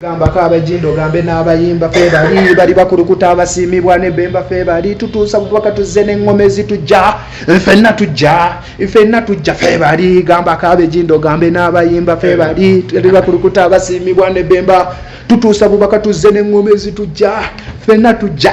gambako abajindo gambe n'abayimba fe bali bali bakulukuta abasiimibwa ne bemba fe bali tutuusa bubaka tuzze n'eŋŋoma ezitujja fenna tujja fenna tujja fe bali gambako abejindo gambe n'abayimba fe bali bali bakulukuta abasiimibwa ne bemba tutuusa bubaka tuzze n'eŋŋoma ezitujja fenna tujja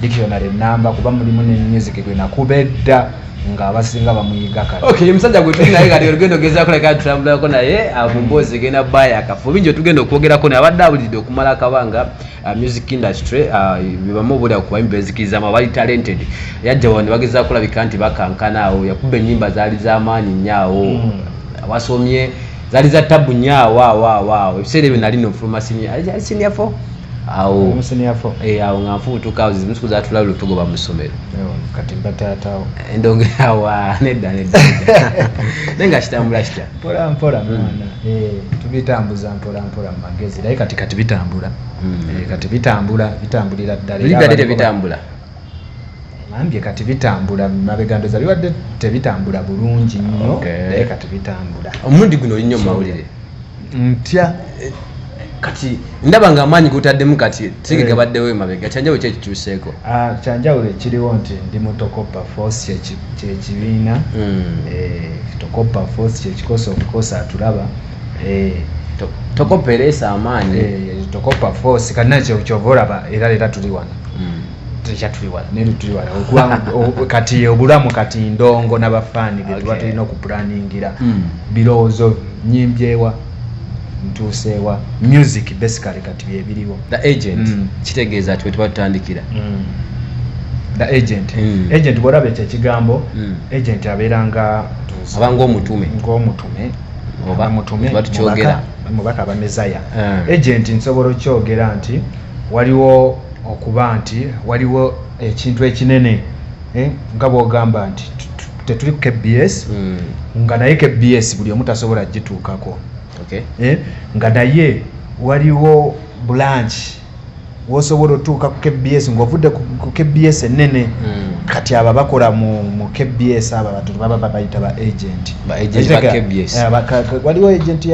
dictionary namba kuba mulimu ne music gwe nakuba edda nga abasinga bamuyiga kale okay ye musajja gwe tuli naye kati olugendo ogeza kuleka tutambulako naye ah, mu mboozi egenda baya akafu bingi otugenda okwogerako naye abadde abulidde okumala akabanga ah, music industry ah, bebamu obulira kubaimi bezikirizamu abali talented yajja wano bageza kulabika nti bakankana awo yakuba ennyimba zaali z'amaanyi nnyo awo hmm. abasomye zaali za tabu nnyo awo awo awo awo ebiseera ebyo nali nofuluma sinia sinia fo awo eh, awo nga nfubutuka zimusiku zatula lu tugoba mu ssomero kati mba taatawo endonge awa nedda nedda naye nga kitambula kitya mpola mpola hmm. mwana eh, tubitambuza mpola mpola mu magezi naye kati kati bitambula hmm. eh, kati bitambula bitambulira ddala bitambula bambye kati bitambula mabega ndoza bibadde tebitambula bulungi nnyo naye kati bitambula omulundi guno olinnyo mumawulire ntya eh, kati ndaba nga amaanyi gotaddemu kati tege eh. gabaddewo emabega kyanjawulo ki ekikyuseeko ah, kyanjawulo ekiriwo nti ndi mu tokopa force kyekibiina hmm. eh, tokopa force kyekikosa okukosa atulaba tokopa ereesa amaanyi tokopa force kati naye kyokyova olaba era leera tuli wano kati obulamu kati ndongo nabafaani betuba okay. tulina okupulaningira mm. birowoozo nyimbyewa ntuuseewa music basically kati byebiriwo the agent mm. kitegeeza ati wetuba tutandikira mm. the agent mm. agent bwolaba ekyo ekigambo mm. agent abeera nga aba ngaomutume ngaomutume oba mutume mubaka abamezaya mm. agent nsobola okyogera nti Waliwo okuba nti waliwo ekintu ekinene eh, nga bwogamba nti tetuli ku kbs hmm. nga naye kbs buli omu tasobola gituukako eh, nga naye waliwo bulanki wosobola otuuka ku kbs ngaovudde ku kbs enene hmm. kati abo abakola mu kbs abo abantu baba babayita ba agenti waliwo agenti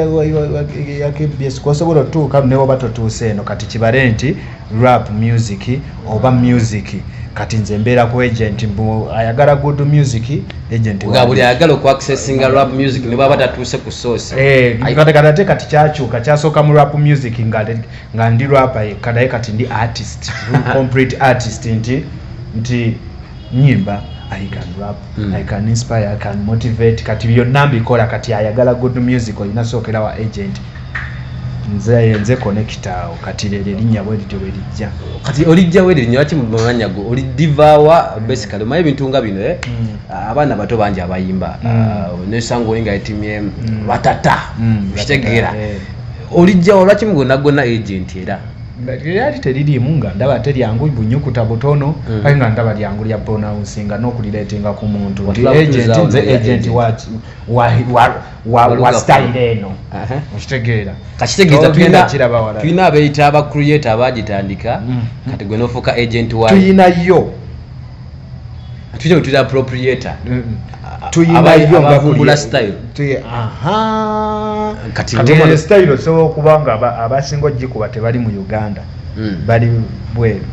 ya kbs kwosobola otuuka newoba totuuse eno kati kibale nti rap music oba music kati nze mbeera ku agent mbu ayagala good music agentbuli ayagala okuaccessinga rap music nebwaba tatuuse ku sourcekatekati eh, kati kyakyuka kyasooka mu rap music nga ndi rapa yekka naye kati ndi artist complete artist nti nti nyimba i can rap mm. i can inspire i can motivate kati byonna mbikola kati ayagala good music olina sookera wa agent nze nze connecta awo kati lero erinnya bwe lityo bwe lijja kati olijja we erinnya lwaki mumanya gwe oli divaawa basically omanyi ebintu nga bino eh? mm. ah, abaana bato bangi abayimba mm. ah, nesanga oli nga etimye mm. batata mm. kitegeera eh. olijjawo lwaki mugona gona agent era lyali teririimu nga ndaba te lyangu bunyukuta butono mm. kale nga ndaba lyangu lya pronouncing nga n'okulireetinga ku muntu nti agenti nze agenti wa style eno okitegeera kakitegeeza tulina abeeyita aba creator abaagitandika mm. kati gwe n'ofuuka agenti wa tuyinayo style osobola okuba nga abasinga ogikuba tebali mu uganda hmm. bali bweru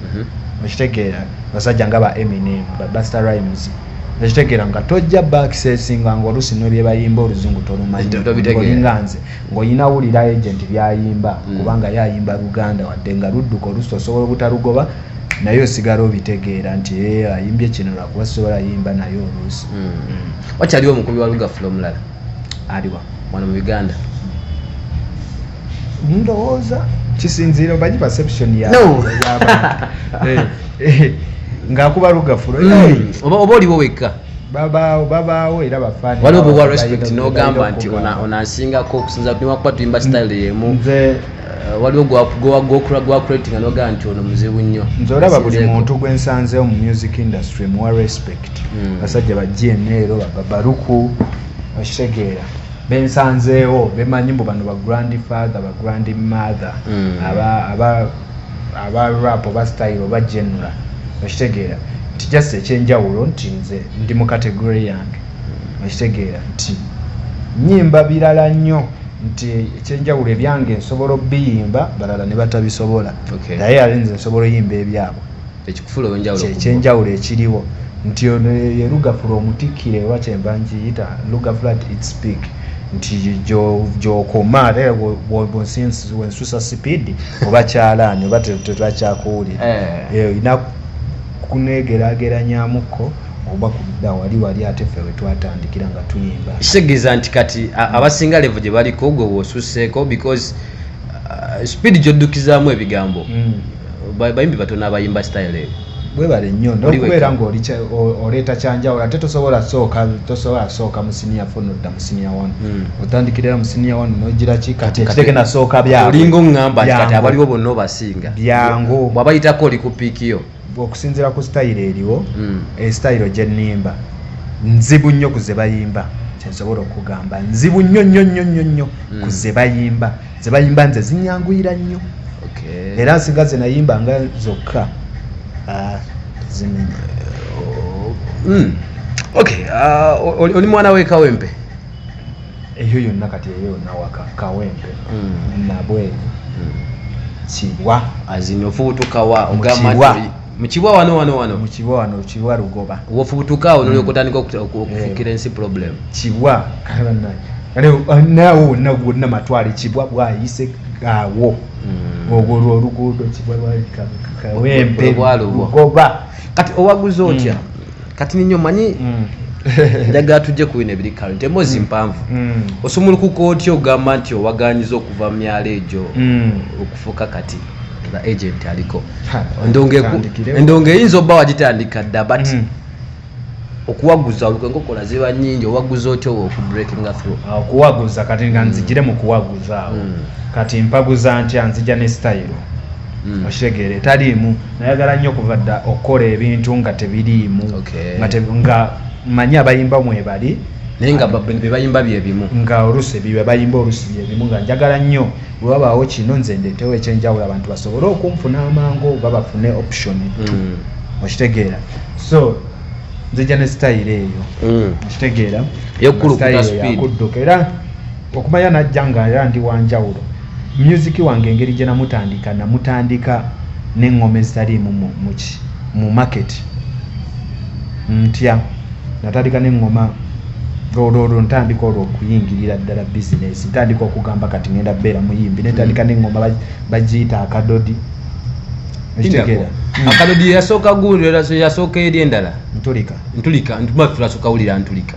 mhm. okitegeera basajja nga ba eminem babuster rimes ekitegeera nga tojja bakisesinga nga olusi nebyebayimba oluzungu tolumanyolinga nze ngaolina wulira agent byayimba hmm. kubanga yayimba luganda wadde nga ludduka olusi osobola obutalugoba naye osigala obitegeera nti eh, ayimbye kino lwakuba sisobola yimba naye oluusi mm. mm. wakyaliwo omukubi wa lugafula omulala aliwa wano mu uganda ndowooza kisinziira obanyi perception ya eh, eh, ngaakuba lugafula mm. oba oliwo wekka babaawo babaawo era bafaani waliwo bwewa respect nogamba nti onasingako okusinza niwakuba tuyimba style yemu Eh, waliwo gwakuratinga nogaa nti ono muzibu nnyo nze olaba buli muntu gwe nsanzeewo mu music industry muwa respect hmm. basajja ba gnl babaruku okitegeera bensanzeewo bemanyi mbu bano ba grand father ba grand mother hmm. aba rap oba style oba genera okitegeera nti just ekyenjawulo nti nze ndi mu kategory yange ekitegeera nti nyimba birala nnyo nti ekyenjawulo ebyange nsobola obiyimba balala ne batabisobola naye ale nze nsobola oyimba ebyabwe ekyenjawulo ekiriwo nti ono yerugafula omutikkire oba kyemba nkiyita lugafula ti it speak nti gyokoma ate wensusa sipiidi oba kyalaani oba tetwakyakuwulira eh. eh, olina kunegerageranyamuko oba kudda wali wali ate ffe wetwatandikira nga tuyimba kitegeeza nti kati abasinga levo gye baliko gwe wosuseeko because uh, speed gyoddukizaamu ebigambo mm. bayimbi batono abayimba style eyo webale nnyo nokubeera ngaoleeta kyanjawulo ate tosobola sooka tosobola sooka musiniya fo nodda musiniya wanu hmm. otandikirira musiniya wanu nogira kikatekiteke nasooka byaolinga oŋamba kati abaliwo bonna obasinga byangu bwabayitako oli ku piikiyo okusinzira ku sitayiro eriwo hmm. eh, sitayiro gye nnimba nzibu nnyo ku ze bayimba kyensobola okugamba nzibu nnyo nnyo nnyo nnyo nnyo hmm. ku ze bayimba ze bayimba nze zinyanguyira nnyo era nsinga ze nayimba nga zokka ah, zimenya oh, hmm. ok ah, oli mwana wekawempe eyo yonna kati eyo yonna waka kawempe hmm. nabwe hmm. kibwa azinyo fubutukawa ogamba mukibwa wano wano wano mukibwa wano kibwa lugoba wofubutuka awo nolyoka hmm. otandika eh. okufukira ensi problem kibwa uh, nawe wonna gwonna matwale kibwa bwayise awo ogwo lwoluguudo kibwa lwakawempe lugoba kati owaguza otya kati ninyo manyi mm. njagala tujje ku bino ebiri current emboozi mm. mpanvu mm. osumulukuka otya ogamba nti owaganyiza okuva mu myalo egyo okufuuka kati nga agent aliko endongo eyinza oba wagitandika dda but okuwaguza olwo enkokola ziba nyingi owaguza otya owo okubreakinga through ah, okuwaguza kati nga nzijire mu kuwaguza awo kati mpaguza ntya nzija ne style Mm. okitegeera etaliimu nayagala nnyo okuva dda okukola ebintu nga tebiriimu nga manyi abayimba mwebali naye nga bebayimba byebimu nga olusi bebayimba olusi byebimu nga njagala nnyo wewabaawo kino nze ndetewo ekyenjawulo abantu basobole okunfuna amangu oba bafune option mm. okitegeera so nzija ne sitayiro eyo mm. okitegeera eyokukudduka era Okumanya najja nga era ndi wanjawulo. Music wange engeri gye namutandika namutandika n'engoma ezitaliimu mu, mu, mu market ntya natandika n'engoma olwolwo ntandika olwo okuyingirira ddala bizinesi ntandika okugamba kati ngenda beera muyimbi netandika mm. nengoma bagiyita akadodi ekitegeera mm. akadodi yasooka gundi yasooka eri endala ntulika ntulika ntuba tulasooka wulira ntulika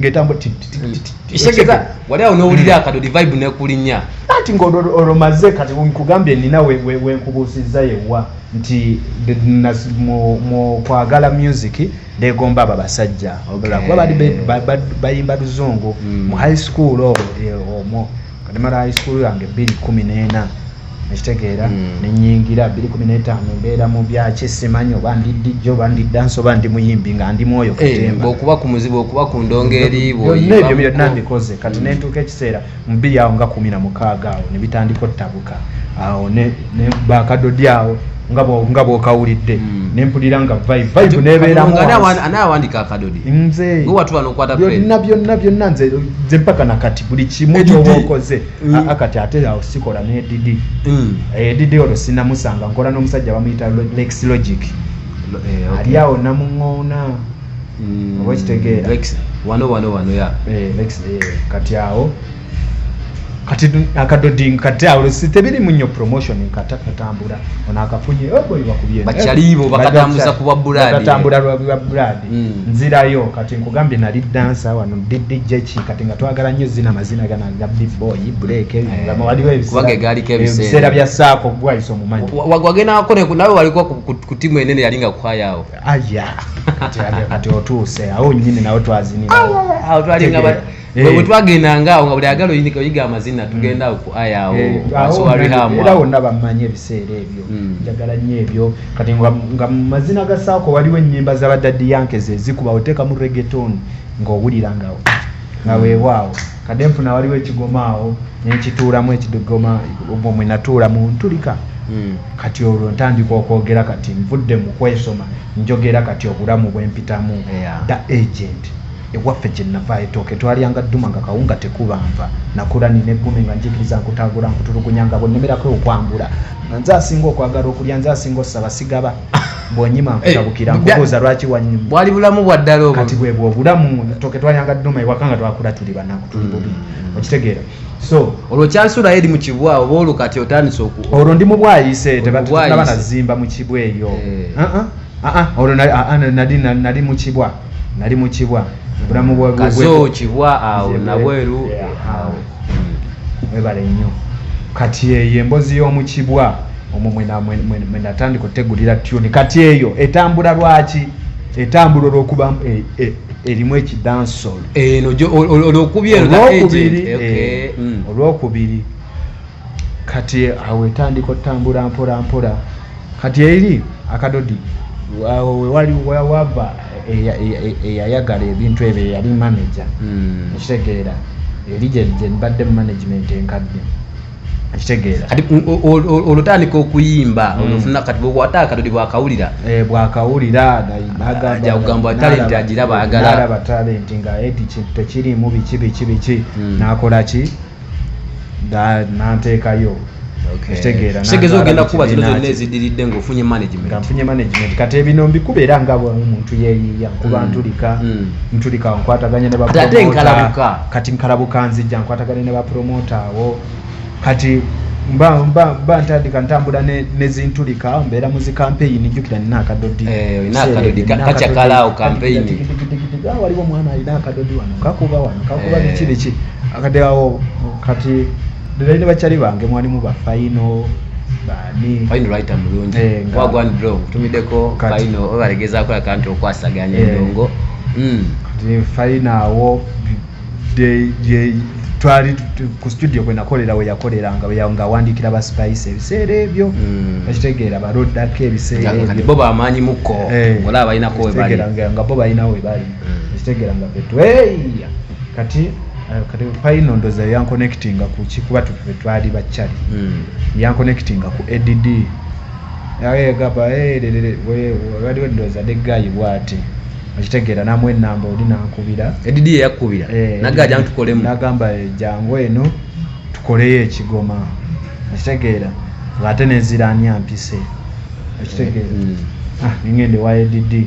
ngetambo isegeza wali awo nowulira hmm. akadodi vibe nekulinya anti ngaolomaze kati nkugambye nina wenkubuusiza yewa nti mukwagala music negomba abo abasajja kuba bayimba luzungu hmm. mu high school omwo kati mala high school yange bbiri kumi n'ena ekitegeera hmm. nenyingira bbiri kumi n'etaano mbeera mu byaki simanyi oba ndi dijja oba ndi dansi oba ndi muyimbi nga ndi mwoyo eh, kutemba okuba ku muzibu okuba ku ndongo eriibyoebyo byonna mbikoze kati hmm. nentuuka ekiseera mu bbiri awo nga kumi na mukaaga awo ne bitandika ottabuka awo ne bakadodi awo nga bwokawulidde hmm. nempulira nga vibevibenebeeramubyonna byonna byonna nze mpaka nakati buli kimu kyoba okoze hmm. akati ate awo sikola nedidi hmm. eh, edidi olwo sinamusanga nkola n'omusajja bamuyita lex logic eh, ali awo namuŋoona oba kitegeera wano wano wano ya eh, kati awo kati akadoding kati awo si tebiri munyo promotion nkata katambula ona akafunye obo iba kubye bachalibo bakatambuza kuba buladi bakatambuza kuba buladi mm. nzira yo kati nkugambye nali dancer wano didi jechi kati nga twagala nyo zina mazina gana ga big boy break eh, nga mwali we kubage gali kebise eh, sera bya sako gwa iso mumanyi wagwage na akone nawe walikuwa kutimu enene yalinga kwa yao aya kati kati otuse awo nyine nawe twazini awo twalinga Eh. bwe twagendanga awo nga buli agala oyiga amazina mm. tugenda awo ku aya awo eh, era wonna bammanyi ebiseera ebyo mm. njagala nnyo ebyo kati nga mu mazina ga saako waliwo ennyimba zabadaddi yanke ze zikuba oteekamu regeton ng'owulira nga nga mm. weewaawo kade nfuna waliwo ekigoma awo nenkituulamu ekigoma omwo mwe natuula mu ntulika kati olwo ntandika okwogera kati nvudde mu kwesoma njogera kati obulamu bwempitamu da agent Ewaffe gye nava etooke twalyanga dduma nga kawunga tekuba nva, nakurani ne ggume nga njikiriza nkutaagula nkutulugunya nga bw'onnemerako okwambula nga nze asinga okwagala okulya nze asinga ossaba sigaba bw'onyima nkutabukira eh, nkubuuza lwaki wanyuma bwali bulamu bwa ddala obwo kati bwe bwo obulamu etooke twalyanga dduma ewaka nga twakula tuli banaku tuli bubi mm. okitegeera so olwo kyasulayo eri mu kibwa oba olwo kati otandise oku olwo ndi mu bwayise tebaaba nazimba mu kibwa eyo eh. uh-uh. uh-uh. olwo nali uh-uh, nali mu kibwa nali mu kibwa obulamu bwakazo kibwa awo nabweru awo webale nnyo kati eyo embozi y'omu kibwa omwo mwenatandika otegulira tuni kati eyo etambula lwaki etambula olwokuba e, e, erimu ekidansol eno olwokubiri eh, eh, mm. olwokubiri kati awo etandika otambula mpolampola kati eri akadodi awo wewali wava eyayagala ebintu ebyo eyali manaja hmm. ekitegeera eri gyebadde mu management enkadde ekitegeera kati olutandika okuyimba hmm. olufuna kati bwekwata akadodi bwakawulira eh, bwakawulira agamba talenti agira bagala talenti nga edi tekirimu biki biki biki hmm. nakolaki nanteekayo kitegeerakitegeeza ogenda kuba zino zonna ezidiridde ngaofunye managementnfunye management kati ebino mbikuba era nga omuntu yeyiiya nkuba mm. ntulika mm. ntulika nkwataganya ne kati nkalabuka nzijja nkwataganya ne bapromota awo kati mba mba mba ntandika ntambula ne nezintulika mbeera mu zi kampeyini jjukira nina akadodi eh, waliwo omwana alina akadodi wano kakuba wano kakuba biki eh. biki akadeawo kati derayi ne bakyali bange mwalimu bafayino mulungi eh, wagwan bro nkutumideko fayino obalegezakola kanti okwasaganya eh. endongo hmm. fayino awo twali ku studio kwenakolera weyakoleranga ngawandiikira ba spice ebiseera ebyo hmm. ekitegeera balodako ebiseera ebyo bo bamaanyi muko eh. olaba balinako webalinga bo balinawo webali ekitegeera hmm. nga betweya kati eh, kati payino ndoza yankonekitinga kuki kuba tufe twali bacali hmm. yankonekitinga ku add yagamba waliwo ndoza ne gayi bwati okitegeera namu enamba oli nankubira add yakubira eh, nagamba jangu tukolemu nagamba eh, jangu eno tukoleyo ekigoma okitegeera ate nenziranya mpise okitegeera hmm. ah, ningende wa add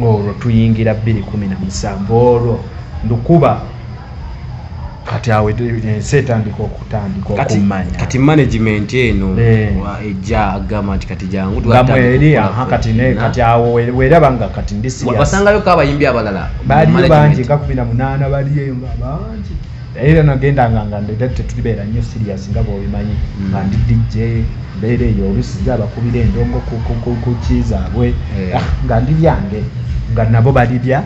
olwo tuyingira bbiri kumi na musanvu olwo ndukuba kati awo ensi etandika okutandika okumanya kati management eno eh. ejja agamba nti kati jangu twamweri aha kati ne kati awo weraba nga kati ndi serious wasangayo ko abayimbi abalala baliyo bangi nga kumi na munaana baliyo nga bangi naye era nagendanga nga ndeda tetulibeera nnyo sirias nga bwobimanyi mm. nga ndi dj mbeera eyo olusi nze abakubira endongo kuki zaabwe eh. ah, nga ndi byange nga nabo balibya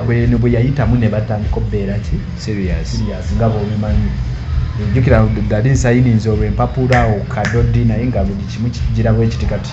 bweno bwe yayitamu ne batandika obbeera ki sirias nga bwobimanyi njukira dali nsayininza olwempapula okadodi naye nga buli kimu kijira bwekiti kati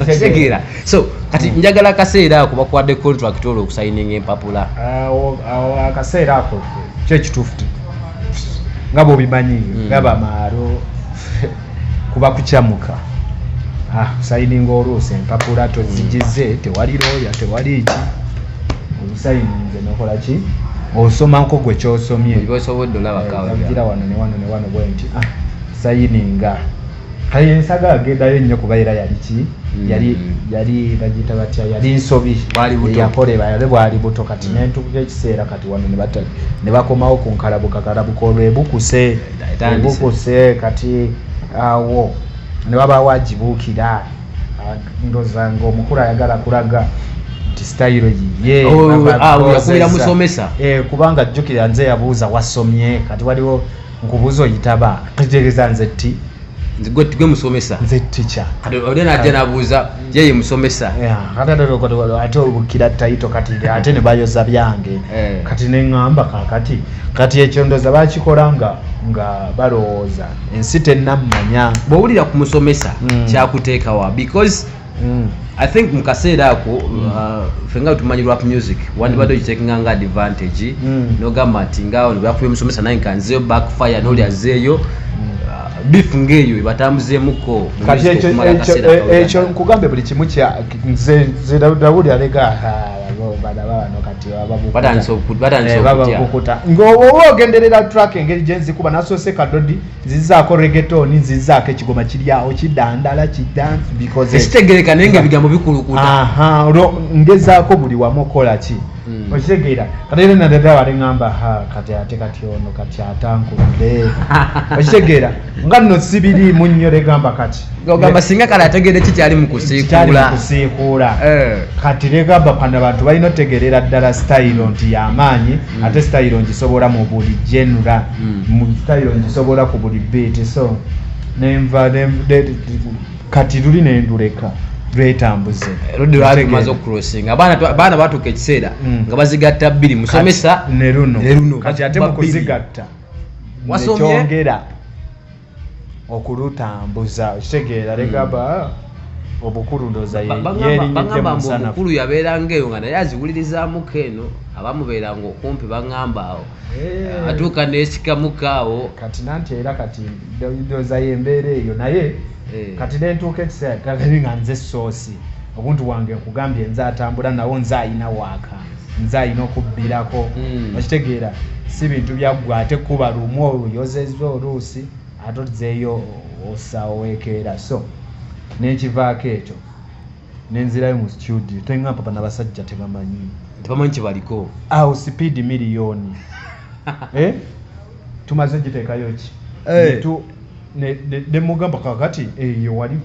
okitegeera so kati hmm. njagala akaseera ako bakwade contract olwo okusayininga empapula akaseera ako kyo kituufu nga bwobimanyi hmm. nga bamaalo kuba kucamuka ah, sayininga oluusi empapula tozigize hmm. tewali looya tewali ki obusayininze nokola ki osoma nko gwe kyosomyeira wano newano newano bwenti ah, sayininga kaye ensaga agendayo nnyo kuba era yali ki mm. yali yali bagiyita batya yali nsobi yakoleba yali bwali buto kati mm. nentukuka ekiseera kati wano nebatali ne bakomawo ku nkalabuka kalabuka olwo ebukuse ebukuse kati awo ne babawo agibuukira ndoza ngaomukulu ayagala kulaga nti sitayiro yiye oh, ah, kubanga jjukira nze yabuuza wasomye kati waliwo nkubuuza oyitaba kitegeeza nze ti gwe musomesa nze tica oli najja nabuuza yeye musomesa ate obukira tayito kati ate nebayoza byange eh. kati neŋamba kakati kati ekyo ndoza bakikola nga nga balowooza ensi tenamanya bwowulira ku musomesa hmm. kyakuteekawa because mm. i think mu kaseera ako mm. uh, fe nga tumanyi rap music wandibadde mm. ogitekinga nga advantage nogamba nti ngaawo nebakubya omusomesa naye nka nzeyo backfire noli azeeyo uh, beef ngaeyo ebatambuzeemuko kati ekyo nkugambe buli kimu kya nze dawudi alega batandise okukuta ngaoba ogenderera track engeri gyenzikuba nasoose kadodi zizaako regetoni zizaako ekigoma kiryawo kidandala kidansi bikoze ekitegereka naye nga ebigambo bikulukuta ngezaako buli wamu okukola ki hmm. okitegeera kati era nadada wali ŋamba ha kati ate kati ono kati atankudde okitegeera nga nno sibiriimu nnyo regamba kati ogamba singa kale ategede kikyali mukusiikuula eh. kati legaba panda bantu balina otegerera ddala sitayiro nti yamaanyi hmm. ate sitayiro ngisobola mu buli genura hmm. mu sitayiro ngisobola ku buli biiti so nenva kati luli nenduleka lwetambuze lwemaze okucrossinga abaana batuuka ekiseera hmm. nga bazigatta bbiri musomesa neruno kati ate mukuzigatta wasomeera okulutambuza okitegeera hmm. legaba obukulu ndoza yerinyidde musana obukulu yabeeranga eyo nga naye aziwulirizamuko eno abamubeeranga okumpi baŋamba awo eh. atuuka nesikamuka awo kati nanti era kati ndoza yembeera eyo naye eh. kati nentuuka ekiseera nga nze soosi obuntu wange nkugambye nze atambula nawo nze ayina waaka nze alina okubbirako hmm. okitegeera si bintu byaggwa ate kuba lumu oluyozeza oluusi ate ozeeyo osawekeera so nenkivaako ekyo nenzirayo mu studio toyinga papa nabasajja tebamanyi tebamanyi kyebaliko awo sipiidi miliyoni eh? tumaze gitekayo ki eh. nemugamba kakati eyo eh, wali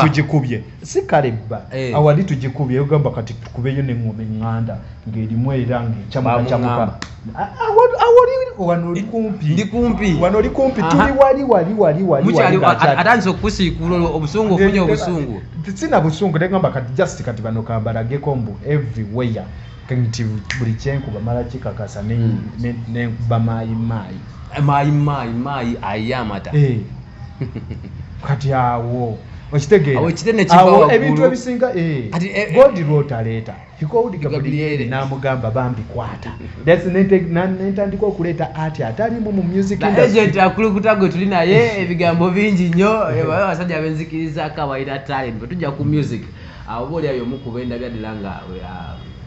tugikubye si kalebba eh. awali tugikubye ogamba kati tukubeyo nengoma enganda ngerimu era ngekyamukacamuka wano oli kumpi tuli wali wali wali waliatandise okukusiikuula obusungu ofunye obusungu sina busungu negamba kati just kati bano kambalageko mbu everywhere nti buli kyenkuba mala kikakasa nenkuba hmm. mayi mayi mayi mayi mayi ayamata eh. kati awo okitegeeraebintu ebisinga eh, eh, god lwotaleeta hikoudi gabrieli namugamba bambi kwata nentandika okuleeta ati atalimu mu musicagent akulukuta gwe tuli naye ebigambo bingi nnyo abasajja benzikiriza kawaira talent bwetujja ku music Awo oba oli ayomu ku bendabya dala nga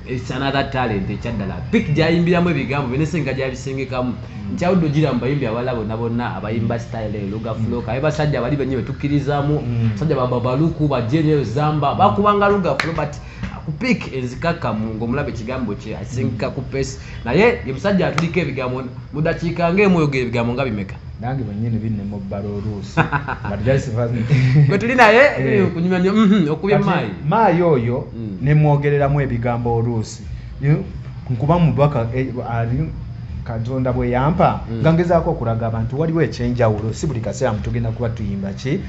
it's another talent ekyaddala pic gyayimbiramu ebigambo byo nesenga gyabisengekamu nkyawudde ogira mubayimbi abala bonna bonna abayimba style eyo luga floka aye basajja abali benye betukkirizamu mm. basajja bababaluku bajeneyo zamba bakubanga luga flo but ku pic enzikakkamu ngaomulaba ekigambo kye asengeka ku pesi naye ye musajja atuliko ebigambo mudakiika ngaemu oyogera ebigambo nga bimeka nange bwenyini binema obbala oluusi gwe tuli naye eh. kunyumya nyo mhm, okubye maayi maayi oyo mm. nemwogereramu ebigambo oluusi nkuba mubaka eh, ali katonda bwe yampa mm. nga ngezaako okulaga abantu waliwo ekyenjawulo si buli kaseera mutugenda kuba tuyimba ki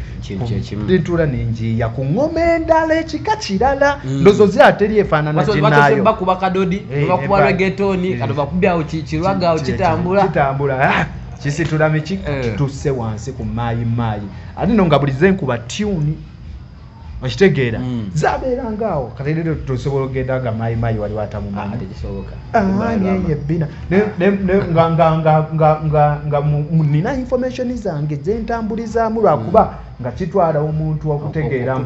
ntuula nenjiiya ku ngoma endala ekika kirala mm. ndozo zi ateri efaanana ginayobakuba kadodi eh, bakuba regetoni kati bakubyawo kirwagaawo kitambula kisiturami ki eh. tusse wansi ku maayi maayi ate no nga buli zenkuba tuni okitegeera hmm. zabeeranga awo katairero tosobola okugenda nga maayi maayi wali watamumanyiyebbina nga nina information zange zentambulizaamu lwakuba hmm. nga kitwala omuntu okutegeera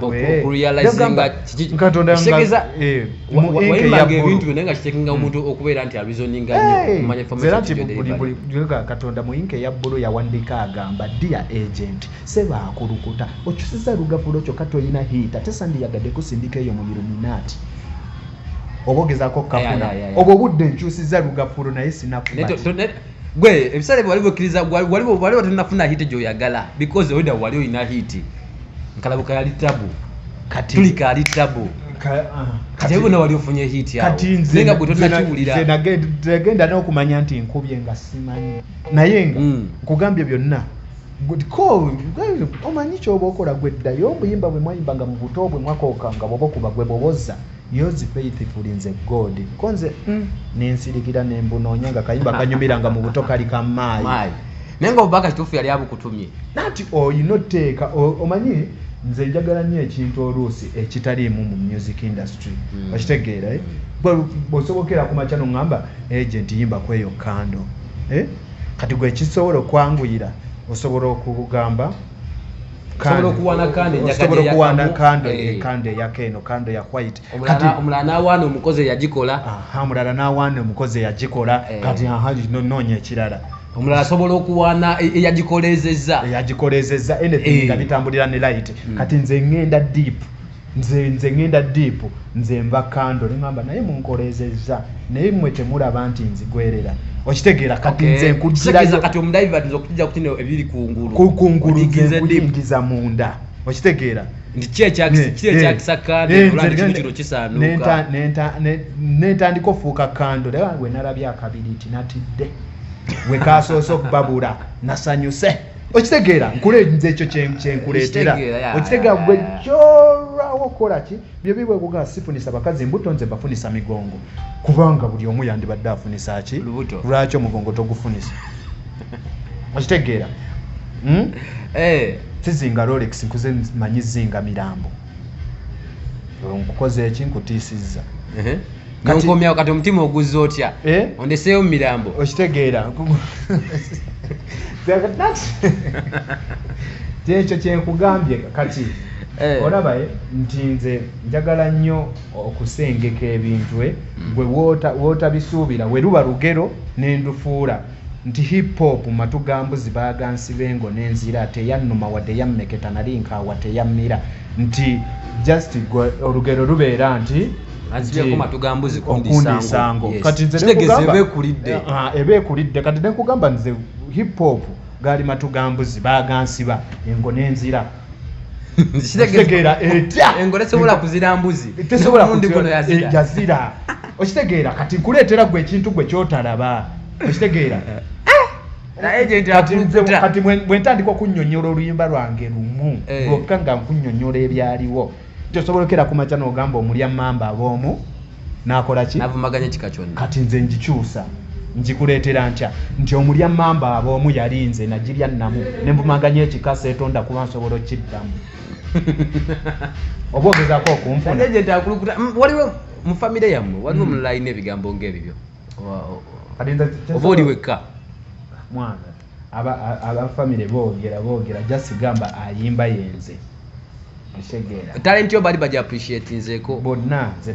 mbwekatonda muyinka eya bbulu yawandiika agamba dia agent sebaakulukuta okyusiza lugavula okyo ka tolina hiita tesandiyagadde kusindika eyo mu iluminaati oba ogezako kukafuna obwo obudde nkyusiza lugavulu naye sinaku gwe ebiseera ebyo wali wekkiriza wali wali watanafuna hiti gyoyagala because oida wali olina hiti nkalabuka yali tabu tulika ali tabu kati ebona wali ofunye hiti awoenga gwe tonakiwuliranagenda n'okumanya nti nkubye nga simanyi naye nga mm. nkugambye byonna omanyi kyoba okola gweddayo obuyimba bwe mwayimba nga mu buto bwe mwakooka nga bwoba okuba gwe bwoboza Yours faithfully nze God ko nze mm, nensilikira nembunonya nga kayimba kanyumira nga mu buto kali ka maayi Maayi. naye nga obubaka kituufu yali abukutumye nati olina otteeka o- omanyi nze njagala nnyo ekintu oluusi ekitaliimu mu music industry Mm. okitegeera eh? Gwe bw'osobokera ku makya noŋŋamba agent yimba kweyo kando eh? kati gwe kisobola okwanguyira osobola okugamba osobola okuwana kandeosobola okuwana kando eh. eh, kando eyaka eno kando ya white kati omulala nawaana omukozi eyagikola omulala nawaana omukozi eyagikola eh. kati aha nonoonya ekirala omulala asobola okuwaana e, eyagikolezeza eyagikolezeza nga bitambulira ne light mm. kati nze ngenda deep nze nze ngenda deep nze nva kando nemamba naye munkolezezza naye mwe temulaba nti nzigwerera okitegeera kati nze nkujirayo kati omudivert nze okutija kuti ne ebiri kungulu kungulu nze nkuyingiza munda okitegeera nti ki ekyakisa kando olwa nti kino kino kisaanuuka nentandika ofuuka kando naye wange wenalabye akabiri nti natidde wekasoose okubabula nasanyuse okitegeera nkule nze ekyo kyenkuleetera okitegeera gwe kyorwawo okukola ki byo bibwekuga sifunisa bakazi mbuto nze bafunisa migongo kubanga buli omu yandibadde afunisa ki lwaki omugongo togufunisa okitegeera hmm? eh. sizinga rolex nkuze manyi zinga mirambo nkukoze eki nkutiisizza nonkomyawo kati omutima oguzza otya eh? ondeseeyo mu mirambo okitegeera kyekyo kyenkugambye kati eh. olabaye eh, nti nze njagala nnyo okusengeka ebintu gwe wotabisuubira weruba lugero nendufuula Nti hip hop matu ga mbuzi baaga nsiba engo ne nzira teyannuma wadde yammeketa nali nkaawa teyammira nti just gwe olugero lubeera nti anzibyeko matu ga mbuzi kundiisa nsango kati nze kitegeza eba ekulidde eh, ah, eba ekulidde kati ne nkugamba nze hip hop gaali matu ga mbuzi baaga nsiba engo ne nzira kitegeera etya engole sobola kuzira mbuzi tesobola kundi guno yazira eh, yazira okitegeera kati nkuleetera gwe ekintu gwe kyotalaba okitegeera eh, kati bwentandika okunyonyola oluyimba lwange lumu eh. lwokka nga nkunyonyola ebyaliwo tosobolokera kumaca nogamba omulya mamba aboomu nakola ki navumaganya ekika kyonna kati nze ngikyusa ngikuleetera ntya nti omulya mamba aba omu yali nze nagirya namu nenvumaganya ekika seetonda kuba nsobola okukiddamu oba ogezako okunfunawaliwo mm, mu famire yammwe waliwo omulala mm. alina ebigambo ngaebibyo oba oli wekka mwana aba aba family bogera bogera just gamba ayimba yenze kitegeera talent yo bali baja appreciate nzeko bonna nze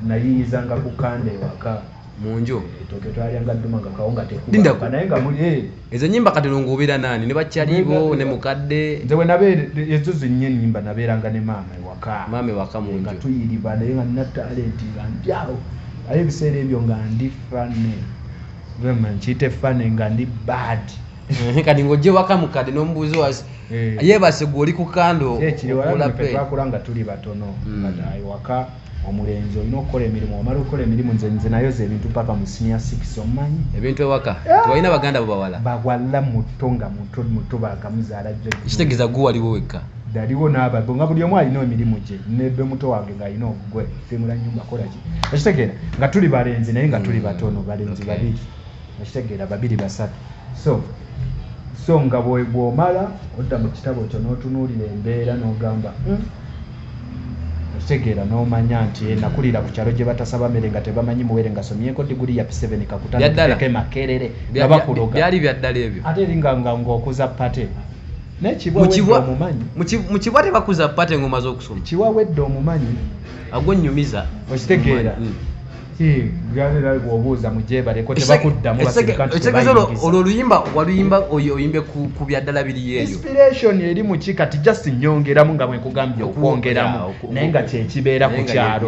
nayiyiza nga ku kande waka munju etoke twalya nga duma nga kawunga tekuba naye nga muli eh. ezo nyimba kati lungubira nani ne bachalibo ne mukadde nze we nabe ezo zinye nyimba naberanga ne mama waka mama waka munju nga tuyiriba naye nga na talent nga ndyawo ayo biseera ebyo nga ndi fane nkiyita efane nga ndi bad eh, kati ngaojje waka mukadde nomubuuzi wasi eh. yebase gwe oli ku kando eh, twakula nga tuli batono hmm. waka omulenzi olina okukola emirimu omala okukola emirimu nze nze nayo ze ebintu paka mu sinia six omumanyi ebintu ewaka tebalina baganda bo bawala bawala muto nga muto muto bakamuzaala jo ekitegeeza gwe waliwo wekka daliwo n'ababo nga buli omu alina emirimu gye nebe muto wange ng'alina ogugwe okitegeera nga tuli balenzi naye nga tuli batono mm, balenzi babiri okitegeera babiri basatu so so nga bwomala odda mu kitabo kyo n'otunuulira embeera n'ogamba hmm, okitegeera n'omanya nti eh, nakulira ku kyalo gye batasaba mere nga tebamanyi muwere nga somyeko diguli ya p7 kakutandikireko emakerere nga bakuloga byali byaddala ebyo ate eringa nga ng'okuza pate mukibwa tebakuza pate ngoma zokusoma kiwa wedde omumanyi agwo nyumiza okitegeera mm. olwo oluyimba waluyimba oyimbe ku byaddala biri yeyoinspiration eri muki kati just nyongeramu nga bwenkugambye okwongeramu naye nga kyekibeera ku kyalo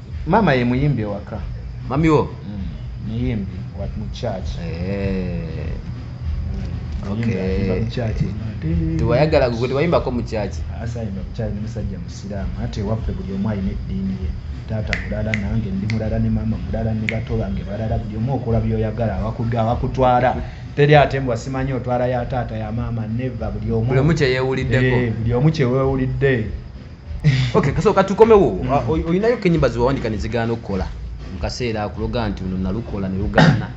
Mama ye muyimbi ewaka. Mami wo? Mm. Muyimbi wa mu church. Eh. Mm. Okay. Tewayagala gwe tewayimbako mu church. Asayimba mu church musajja musiraamu ate waffe buli omu alina eddiini ye. Taata mulala nange ndi mulala ne mama mulala ne bato bange balala buli omu okola byoyagala awakudde awakutwala. Teri ate mbwa simanyi otwala ya taata ya mama neva buli omu. Buli omu kyeyewulidde. Eh, buli omu kyewewulidde. okay kaso katukomewo oyinayo kenyimba ziwawandika nezigaana okukola mukaseera akuloga nti luno nalukola nelugaana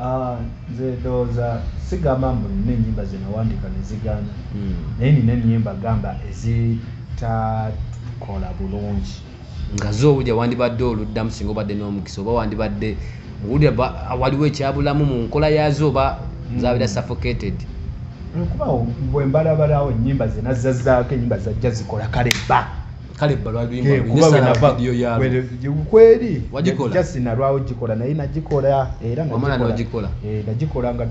ah, nze ndowooza sigamba mbu nina enyimba zenawandika nezigaana hmm. naye nina enyimba gamba ezitakola bulungi nga zo obuja wandibadde oluddamu singa obadde n'omukisa oba wandibadde owulira waliwo ekyabulamu mu nkola yaazo oba hmm. zabeera suffocated kuba bwe mbalabalawo ennyimba ze nazzazaako ennyimba zajja zikola kale bba kale balwalikweri jasinalwawo gikola naye nagikola era nagikola eh, nga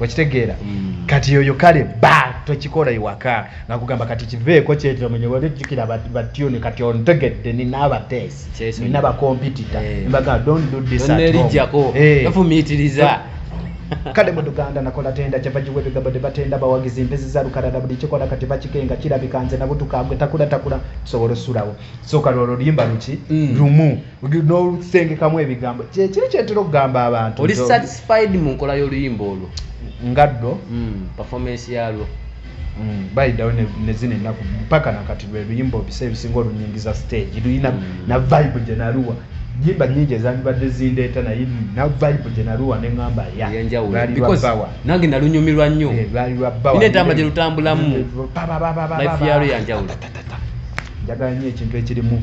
okitegeera mm. kati oyo kale ba tokikola iwaka nakugamba kati kiveeko kyetomenyewolejukira batyuni kati ontegedde nina abatest nina bakompitita eh. mbaga don't do this at home eh. efumitiriza kale muduganda nakola tenda kyava giwa ebigambo ne batenda bawagizi mpezi za lukalala buli kikola kati bakikenga kirabika nze nabutukagwe takula takula tusobola osulawo soka lwolwo luyimba luki mm. lumu n'olusengekamu ebigambo kyekiri kyentera okugamba abantu oli satisfied mu nkola y'oluyimba olwo nga ddo hmm, performance yalwo hmm, bayidawo nezina enaku mpaka nakati lwe luyimba obisa ebisinga olunyingiza stage luyina hmm. na vibe gyenaluwa yimba nyingi ezandibadde zindeeta naye na vibe gyenaluwa neŋamba yayenjawulobawa nange nalunyumirwa nnyo eh, lwali lwabawainetamba gyelutambulamu life yalwo yanjawulo njagala nyo ekintu ekirimu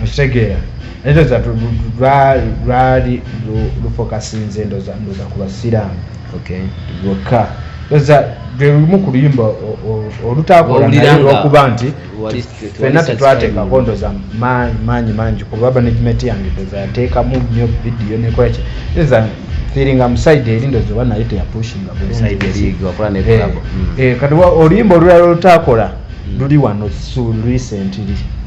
mukitegeera naye ndoza lwali lufokasinze ndoza ndoza ku basiraamu lwokka ndoza lwelumu ku luyimba olutakolanaolwokuba nti fena tetwateekako ndoza maanyi mangi kuba management yange ndoza yateekamu nyo vidiyo nekolaki ndoza feeling am side eri ndoza oba naye teyapushinga eh, hmm. eh, kati oluyimba olulala olutakola hmm. luli wano su recently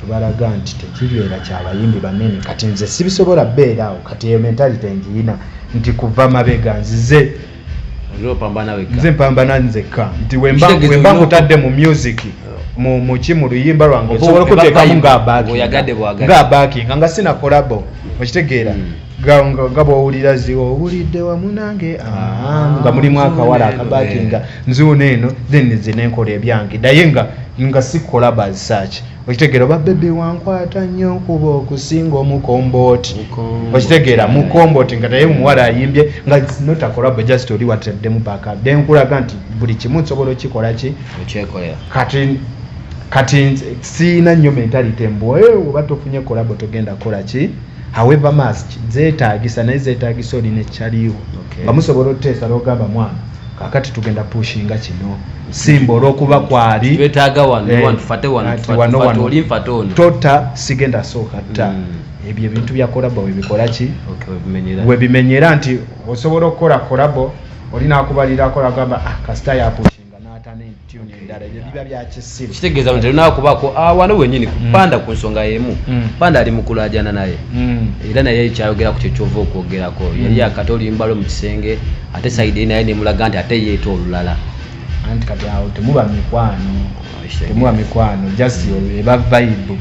tubalaga nti tekibeera kyabayimbi banene kati nze sibisobola beera awo kati eyo mentality njiyina nti kuva mabega nzize nze mpambana nzekka nti wemba nkutadde mu music muki mu luyimba lwange osobola okutekamu nga abaki nga abaki nga nga sina kolabo okitegeera hmm. nga bwowulira ziwa owulidde wamu nange ah, nga mulimu akawala akabaati nga nzuuno eno then nze nenkola ebyange naye nga nga sikola basaaki okitegeera oba bebi wankwata nnyo nkuba okusinga omukombooti okitegeera mukombooti nga naye omuwala ayimbye nga notakolabo just oli wataddemu paka de nkulaga nti buli kimu nsobola okikola ki kati kati siina nnyo mentality mbu oba tofunye kolabo togenda kukola ki however mask zetagisa naye zetagisa oli ne chaliwo okay. bamusobola otesa logamba mwana kakati tugenda pushinga kino simba olwokuba kwali betaga wano eh, wano fate wano fate wano wano oli fate ono tota sigenda soka ta mm. ebyo ebintu bya korabo webikola ki okay webimenyera webimenyera nti osobola okora korabo oli nakubalira akora gamba ah kasita ya pushinga kitegeeza nti olina kubaako ah, wano wenyini kupanda mm. ku nsonga yemu mm. panda ali mukulajana naye mm. era naye kyayogera ku kyekyova okwogerako yali akati olimbalo mu kisenge ate saidi naye nemulaga nti ate yeeta olulala anti kati awo temuba mikwano temuwa mikwano just mm. eba vibe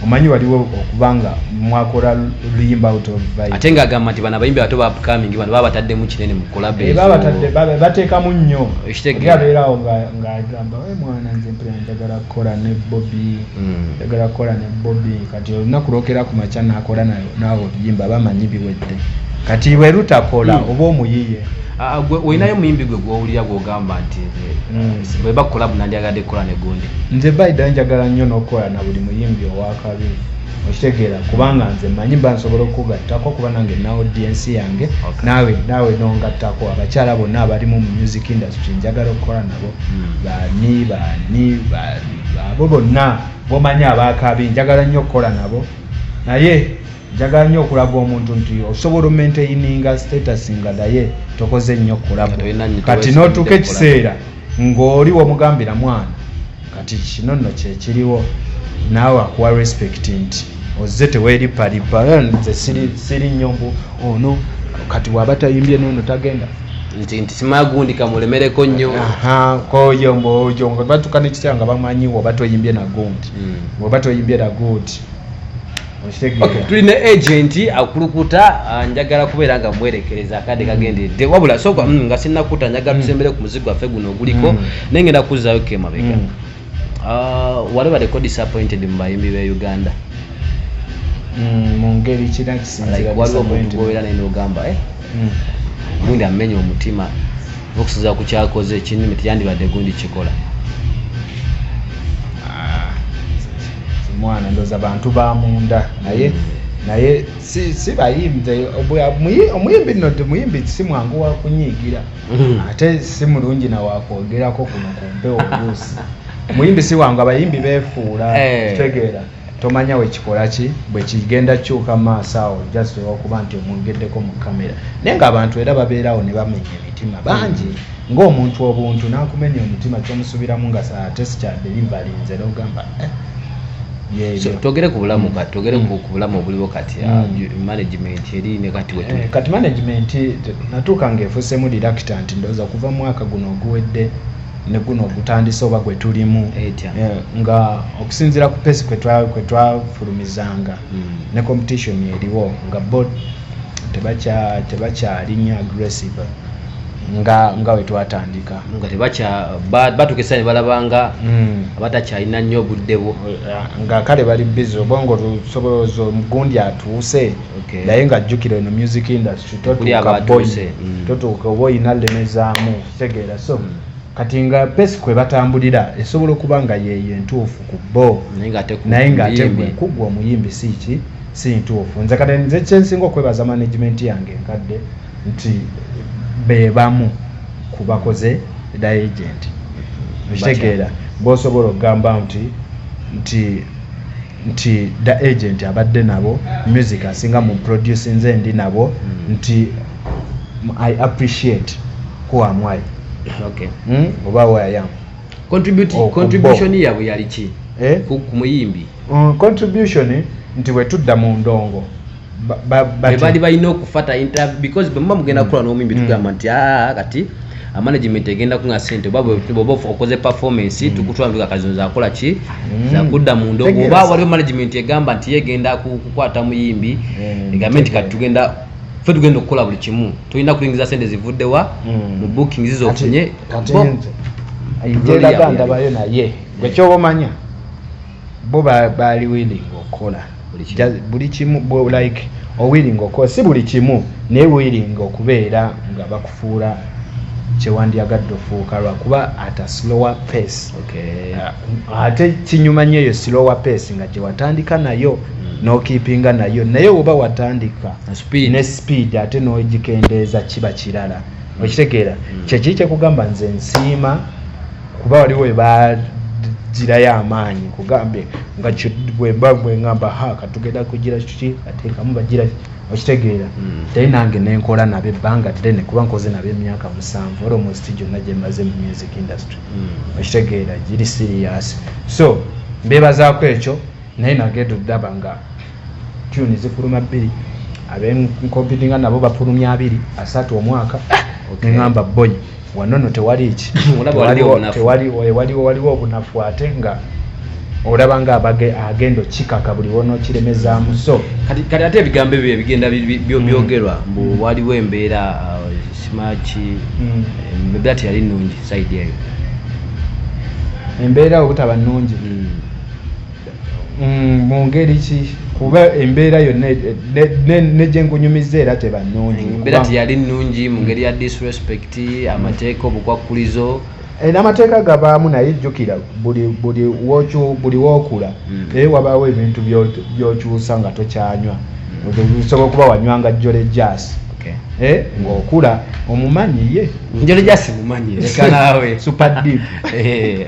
omanyi waliwo okuba nga mwakola luyimba out of vibe ate nga agamba nti bano abayimbi abato ba upcoming bano baba bataddemu kinene mu kolabe eh, baba batadde bateekamu nnyo ekitegeera abeerawo nga nga agamba we eh, mwana nze mpira njagala kukola ne bobi mm. njagala kukola ne bobi kati olunaku lwokera ku makya nakola naawe oluyimba bamanyi biwedde kati bwe lutakola mm. oba omuyiye ah, ah, olinayo muyimbi gwe gwowulira gwogamba nti Mm. bweba kolabu nandyagadde kukola ne gundi nze baida njagala nnyo n'okukola na buli muyimbi owakabi okitegeera kubanga nze manyi mba nsobola okukugattako kuba nange naodiensi yange nawe nawe nongattako abakyala bonna abalimu mu music industry njagala okukola nabo mm. bani bani abo bonna bomanyi abakabi njagala nnyo okukola nabo naye Njagala nyo okulaga omuntu nti osobola omaintaininga status nga daye tokoze nnyo kulabo kati notuuka ekiseera ng'oli womugambira mwana kati kino nno kyekiriwo naawe akuwa respect nti ozze teweripalipa nze siri nnyo mbu ono kati waba tayimbye nono tagenda nti nti simagundi kamulemereko nnyo koyo mboyo nga batuka nekiseera nga bamanyiwo oba toyimbye nagundi hmm. oba toyimbye nagundi tuli ne agenti akulukuta ah, njagala kubeera nga mwerekereza akadde mm. kagenderedde wabula soka mm, nga sinakuta njagala mm. tusembere ku muzigo waffe guno oguliko naye ngenda kuzzayo kemabega ah, wali badeko disappointed mu bayimbi be uganda mungeri kirakisinzira waliwo omuntu gwobeera naye nogamba eh? gundi amenya omutima okusinzira ku kyakoze kinime teyandibadde gundi kikola ah, mwana ndoza bantu bamunda naye naye si bayimbi omuyimbi nno ti muyimbi si mwangu wakunyiigira mm. ate si mulungi nawakwogerako kuno ku mpewo oluusi omuyimbi si wangu abayimbi befuula eh. kitegeera tomanya wekikolaki bwekigenda kyuka maaso awo just olwokuba nti omwogeddeko mu kamera naye nga abantu era babeerawo ne bamenya emitima bangi ngaomuntu obuntu nakumenya omutima kyomusubiramu nga ate sikyadeliverinze nogamba eh, togere ku bulamu kati togere ku bulamu obuliwo kati ah, mm. management eri ne kati wetu eh, kati management natuuka ngaefuusemu directant ndoza kuva mwaka guno oguwedde ne guno ogutandise oba gwe tulimu eh, nga okusinziira ku pesi kwe twafulumizanga hmm. ne competition eriwo nga bo tebakyalinya aggressive nga nga we twatandika nga tebakya batukisa ne balabanga hmm. abatakyalina nnyo obudde bwo eh, nga kale bali bizi obongo lusoboloza omugundi atuuse naye nga jjukira eno music industry totuuka boyi hmm. totuuka oba olina lemezaamu kitegeera so kati nga pesi kwe batambulira esobola okuba nga yeeyo entuufu ku bo naye ng'ate gwe kuggwa omuyimbi si ki si ntuufu nze kati nze kyensinga okwebaza management yange enkadde nti be bamu ku bakoze da agenti okitegeera boosobola okugamba nti nti nti da agent abadde nabo music asinga mu produce nze ndi nabo mm. nti i appreciate who am i okay mm? oba who i am contribute oh, contribution yabwe yali ki eh? ku muyimbi mm, contribution nti wetudda mu ndongo bali balina okufata interview because bwemuba mugenda mm. kukola n'omuyimbi mm. tugamba nti aa ah, kati amanagement egenda kunga sente oba bwoba okoze performance mm. tukutwala ntuga kazino zakola ki zakudda mundo oba waliwo management egamba nti yegenda kukwata muyimbi egambe nti kati tugenda fe tugenda okukola buli kimu tulina kulingiza sente zivuddewa mu booking zizofunye ndabayo naye gwekyoba omanya bo baali willing okukola buli kimu like owilling okukola si buli kimu naye willing okubeera nga bakufuula kyewandyagadde ofuuka lwakuba at a slower pace uh, ate kinyuma nyo eyo slower pace nga gyewatandika nayo hmm. nokipinga nayo naye woba watandika ne speed ate nogikendeeza kiba kirala hmm. okitegeera hmm. kyekiri kyekugamba nze nsiima kuba waliwo ebagirayo amaanyi kugambye nga bwemba bwengamba ha katugenda kugira kiki atekamu bagira okitegeera hmm. naye nange nenkola nabo ebbanga ddene kuba nkoze nabo emyaka musanvu ora omusti gyonna gyemaze mu music industry hmm. okitegeera giri sirias so mbebazaako ekyo naye nagenda oddaba nga tuni zifuluma bbiri abenkompidinga nabo bafulumya abiri asatu omwaka ah, nengamba boyi wano no tewali ki waliwo obunafu ate nga olaba nga abage agenda okikaka buli wonokiremezaamu so kati ate ebigambo ebyo ebigenda mm. byogerwa mbu mm. waliwo embeera uh, simaki mm. embeera teyali nungi saidi eyo embeera obutaba nungi Mm, mu ngeri ki kuba embeera yo ne gye nkunyumiza era teba nnungi mm, embeera teyali nnungi mu ngeri ya disrespect amateeka obukwakkulizo eh, n'amateeka gabaamu naye jjukira buli wookula mm. naye wabaawo ebintu byokyusa nga tokyanywa osobola okuba wanywanga jjole jaasi eh, ng'okula omumanyi ye njole jaasi mumanyi leka naawe super deep eh.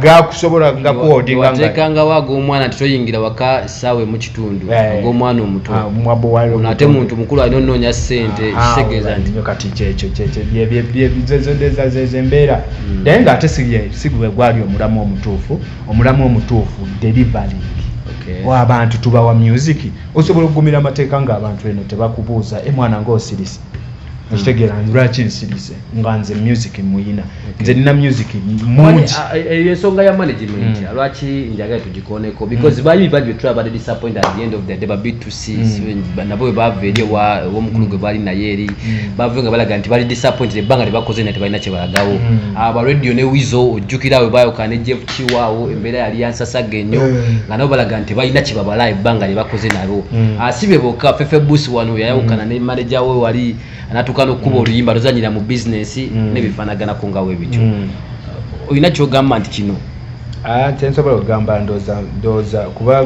gakusobola gakuotingatekangawo ag'omwana nti toyingira waka saawa emu kitundu eh. ag'omwana omutoate ah, muntu mukulu alina onoonya sente ah, kitegeeza nti kati kyekyoembeera hmm. naye nga ate sigwe gwali omulamu omutuufu omulamu omutuufu delivery wabantu tubawa music osobola okugumira amateeka ngaabantu eno tebakubuuza emwana eh, ngaosirisa hmm. okitegeera lwaki nsirisa nga nze music muyina nze nina music mungi eyo ensonga ya management mm. lwaki njagala tugikoneko because mm. bayibi babi betulaba bade disappoint at the end of the day babi to see mm. nabo bebava eri owomukulu gwe baali naye eri bave nga balaga nti bali disappointed ebbanga lyebakoze na tebalina kyebalagawo aba radio ne wizo ojjukira awe bayoka ne jeff kiwaawo embeera yali yansasaga enyo nga nabo balaga nti balina kyebabala ebbanga lyebakoze nalwo asibe boka fefe bus wano yayawukana ne manager we wali natuuka n'okukuba mm. oluyimba luzanyira mu bizinesi mm. nebifaanaganako nga we bityo mm. olina kyogamba nti kino ah, kyensobola okugamba ndooza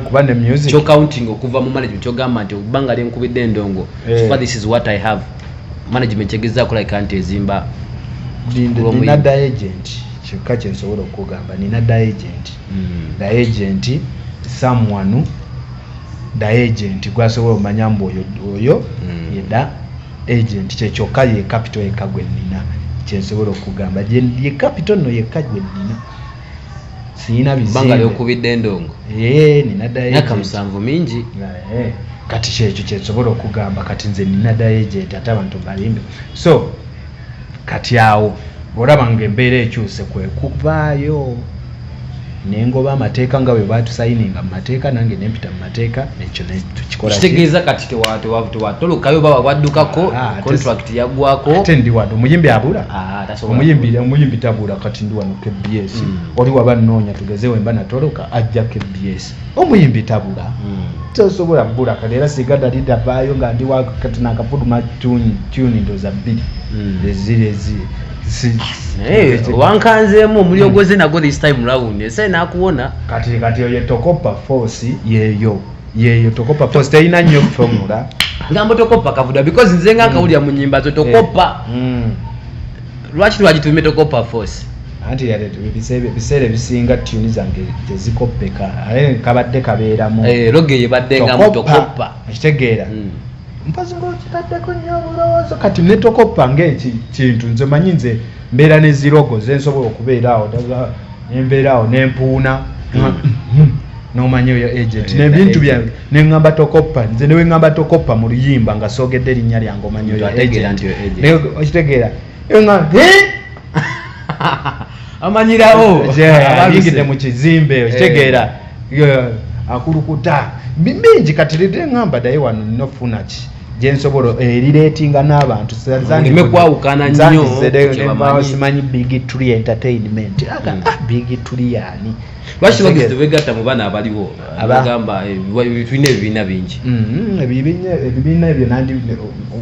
kuba ne music kyocounting okuva mu management kyogamba nti okubanga lyenkubidde endongo eh. this is what i have management kyegezaako layika nti ezimba nina da agent kyokka kyensobola okugamba nina da agent da agent someone da agent gwasobola omanya mbu oyo oyo mm. yeda agent kyekyokka ye capital yekka gwe nnina kyensobola okugamba ye capital nno yekka gwe nnina siyina bizibanga lyokubidde endongo ee eh, nina dayaka musanvu mingi eh, kati kyekyo kyensobola okugamba kati nze nina dayagent ate abantu balimbe so kati awo olaba nga embeera ekyuse kwekuvaayo nengoba amateeka nga bwe batusayininga mu mateeka nange nempita mu mateeka ekyo nekikolategeeza kati tewatolokayo baba bwaddukako ah, contract yagwako ate ndi wano omuyimbi abula ah, omuyimbi omuyimbi tabula kati ndi wano kbs mm. oli waba nnoonya tugeze wemba natoloka ajja kbs omuyimbi tabula hmm. tosobola bula kati era singa nali ndavaayo nga ndi kati nakafuluma tuni ndoza bbiri hmm. eziri eziri wankanzeemu omulio hmm. gwoze nago this time round esae nakuwona kati kati oyo tokopa force yeyo yeyo tokopa force terina nnyo formula gambo tokopa kavuda because nze nga nkawulira mu nyimba zo tokopa lwaki twagituumye tokopa force anti ebiseera ebisinga tuni zange tezikoppeka aye kabadde kabeeramu eh, loge yebaddengamu tokoppa ekitegeera hmm. mpozi ngaokitaddeko nnyo obulowoozo kati netokoppa ngaekintu nze manyi nze mbeera nezirogo zensobola okubeera awo nembeera awo nempuuna hmm. hmm. nomanya oyo agent nebintu byange nengamba tokoppa nze newengamba tokoppa mu luyimba nga sogedde erinnya lyange omanyioyokitegeera amanyirawo abaligidde mu kizimbe okitegeera eh. akulukuta bingi kati rirengamba daye wano nofunaki gyensobola eriretinga eh, n'abantu zanime kwawukana nnyosimanyi big tree entertainment aga mm. ah, big tree yani lwaki bagezi tebegatta mu bana abaliwo abagamba eh, tulina ebibiina bingi mm-hmm. ebibiina ebyo nandi